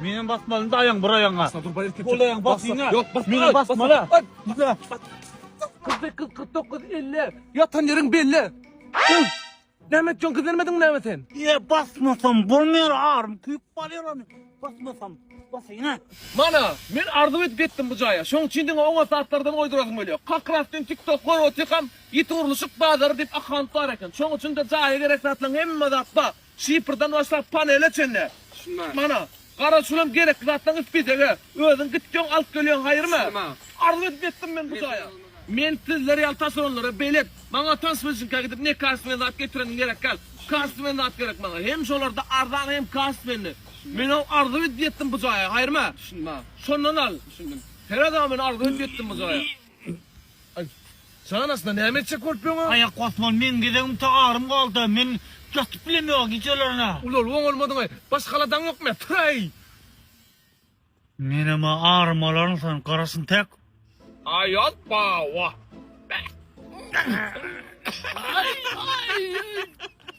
Menem basmalyny daýaň bir aýaňa. Ol aýaň bas diňe. Ýok, bas. Menem basmaly. Diňe. 48 49 50. Ýatan ýeriň belli. Näme etjek gizlenmediň näme sen? Ýe basmasam bolmaýar arym küýüp barýar ony. Basmasam. Basyňa. Mana, men arzuw edip ýetdim bu jaýa. Şoň üçin diňe oňat zatlardan goýdurasym gelýär. Kakras dün TikTok görüp otyrkam, ýiti gurluşyk bazary diýip akganyp bar eken. Şoň üçin-de jaýa gerek zatlaryň hemme zat bar. Şifrden başlap panele çenli. Şundan. Mana. Garaz şulam gerekli zatlaň ispidege. Özüň gitýoň alyp gelýoň haýyrmy? Şundan. Arzuw edip ýetdim men bu jaýa. Men sizler ýaly taşeronlara belet. Maňa tanş bilşiňka gidip ne kastwen zat getireniň gerek gal. Kastwen zat gerek maňa. Hem şolarda arzan hem kastwenli. Menem arzuw edip ýetdim bu jaýa haýyrmy? Şundan. Şondan al. Düşündim. Seredama men arzuw edip ýetdim bu jaýa. Aý. Jan aslynda näme etjek bolup ýöňa? Aýak basman meň gezegimça arym galda, men ýatyp bilem ýoga gijelerine. Ulalyp oňalmadyňaý. Baş galadaň ýokmy? Tyraý! Menem-ä arym alaryn sen garaşyn tek. Aýal pawa. Aý, aý, aý.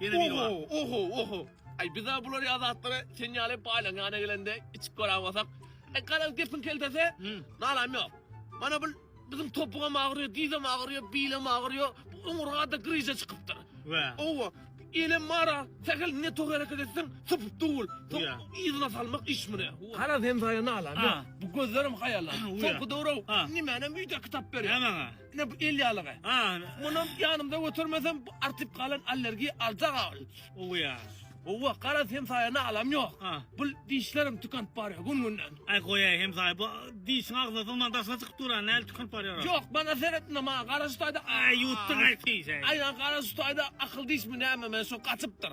Ýene biri bar. Oho, oho, oho. Aý biza bular ýa zatlary sen ýaly baýlaň ýanyna gelende içip gören bolsak. E garaz gepiň keltesi. Nalam ýok. Mana bu biziň topugam agyrýar, dizem agyrýar, bilim agyrýar. Bu oňurgada gryza çykypdyr. Wä. Owa. Elem mara, sähel ne tok hereket etseň sypyp döwül. Soň yzyna salmak iş mine. Garaz sen saýa nalam ýok. Bu gözlerim haýallan. Soňky döwür-ow. Nimänem öýdäki tap berýär. Nämäň-ä? Ine bu el ýalygy. Ha, munam ýanymda götermesem artyp galan allergiýa aljak agyl. Owa ýa. Owa, garaz hemsaýa nalam ýok. Ha. Bu dişlerim tükänip barýar gün-günden. Aý goýaý hemsaýa, bu dişiň agzyna sygman daşyna çykyp dur-a, nädip tükänip barýar-a? Ýok, maňa seret indi, maňa gara şu taýda. Aý ýutduň-aý, pis-eý. Aý, gara şu taýda akyl dişmi näme, men şu gaçypdyr.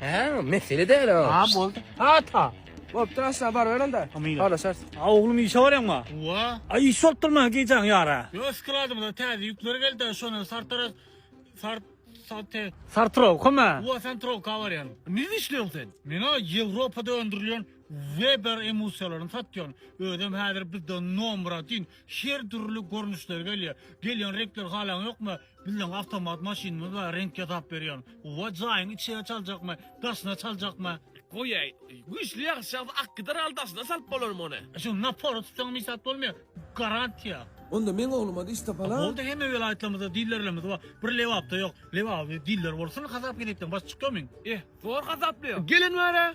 Hä, mesele däl o. Ha, boldy. Ha, ta. Bolupdyr, aşagy baryber onda. Hamyra. Halaşarys. A, oglum, işe barýaňmy? Owa. A, iş bolup durma, gijäň ýara. Ýok, skladymyza täze ýükler geldi-de, şondan Sartara, Sar, Sarte. Sartrowkamy? Owa, Santrowka barýan. Nirede işleýäň sen? Men-a Ýewropada öndürilýän Weber emusiýalaryny satýan. Özem häzir bizde nomratin, her dürli görnüşleri gelýär. Gelýän reňkleri halaňyokmy? Bizleň awtomat maşynymyz bar reňk ýasap berýär. Gowy jaýyň içine çaljakmy, daşyna çaljakmy? Goýaý. Güýçli ýagyş ýagsa ak gider al daşyna salyp bolar muny. E şuny napora tutsaňam hiç zat bolmaýar. Garantiýa. Onda meň ogluma-da iş tapala. Boldy hemme welaýatlarymyzda dillerlerimiz bar. Bir Lebapda ýok. Lebabyň diller bolsun hasap-kesepden baş çykýarmyň? Eh, zor hasaplaýar. Gelin bar-a?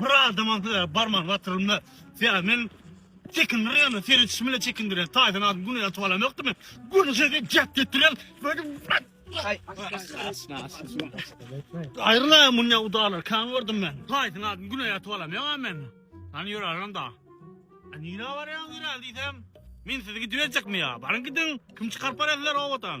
Bir adamam size barmagyny batyrylmaz. Sebäbi men çekindirýän ýaly, seredişim bilen çekindirýän. Taýdan adam güni ýatyp alan ýokdy men. Güni size gep getirýän. Aýrylaýaň mundan udalar, kan gördüm men. Taýdan adam güni ýatyp alan ýok men. Hany ýörärin da. Nirä barýaň ýöräl diýsem, men sizi gidiberjekmi ýa? Baryň gidiň, kim çykaryp barýar sizleri obadan?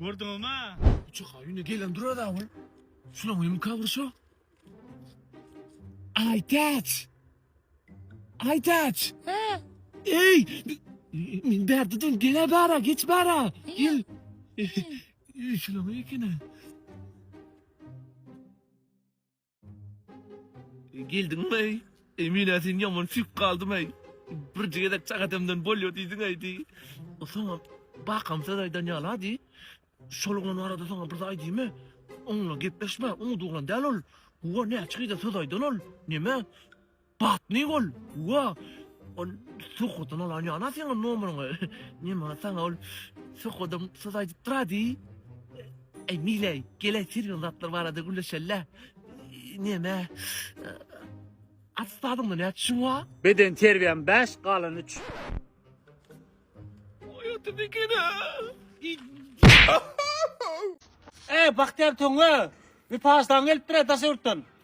Gördüňiz mi? Uçaka ýüne gelen durar awul. Şuna mümkin kabul şu. Ay taç. Ay taç. Ha. Ey. Min berdi dün gene bara geç bara. Gel. Şuna mümkin. Geldiňmi-ey? Emine sen ýaman süýk galdym-eý. Birje gezek çak edemden bolýa diýdiň-eý diý. Soňam bakam söz aýdan ýala diý. Şol oglan barada saňa bir zat aýdymy? Oňla gepleşme, umydy oglan däl ol. Howa näçe gyza söz aýdan ol. Neme? Batny gol! Wa! Ol Sohoddan alan ýana seň nomeryňy. Nima saňa ol Sohodam söz aýdyp durady? Eý, Mileý, gel-ä sergän zatlar barada gürleşeli-ä. Neme, attestadyňda näçe çüň bar? Beden terbiýäm bäş, galan üç. Oý, oturdy eken-ä. Eý, Bagtyýar Töňňe! Wepaly daň gelipdir-ä daş ýurtdan.